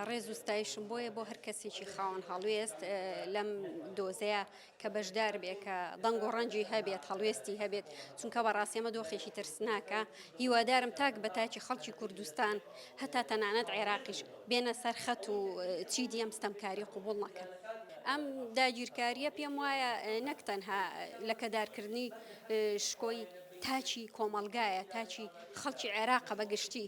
ڕێز و ستایشم بۆیە بۆ هەر کەسێکی خاوەن هەڵوێست لەم دۆزەیە کە بەشدار بێ کە دەنگ و ڕەنجی هەبێت هەڵوێستی هەبێت چونکە بەڕاستێمە دۆخێکی ترسناکە هیوادارم تاک بە تاکی خەڵکی کوردستان هەتا تەنانەت عێراقیش بێنە سەر خەت و چی دیەم ستەمکاری قوبول نەکەن ئەم داگیرکاریە پێم وایە نەک تەنها لەکەدارکردنی شکۆی تاچی کۆمەلگایە تاچی خەڵکی عێراقە بەگشتی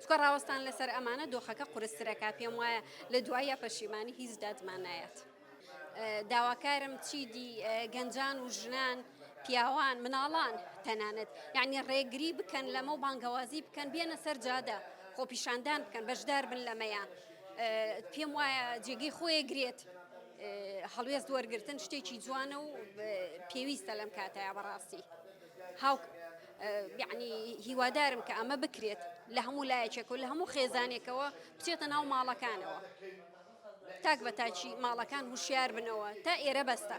چونکە ڕاوەستان لەسەر ئەمانە دۆخەکە قورستر ئەکا پێم وایە لە دواییا پەشیمانی هیچ دادمان نایات داواکارم چیدی گەنجان و ژنان پیاوان مناڵان تەنانەت یعنی ڕێگری بکەن لەمە و بانگەوازی بکەن بێنە سەر جادە خۆپیشاندان بکەن بەشدار بن لەمەیە پێم وایە جێگەی خۆیە گرێت هەڵوێست وەرگتن شتێکی جوانە و پێویستە لەم کاتەیە بەڕاستی. هاوک یعنی هیوادارم کە ئەمە بکرێت لە هەموو لایەکێک و لە هەموو خێزانێکەوە بچێتە ناو ماڵەکانەوە تاک بە تاچی ماڵەکان هوشیار بنەوە تا ئێرە بەستە.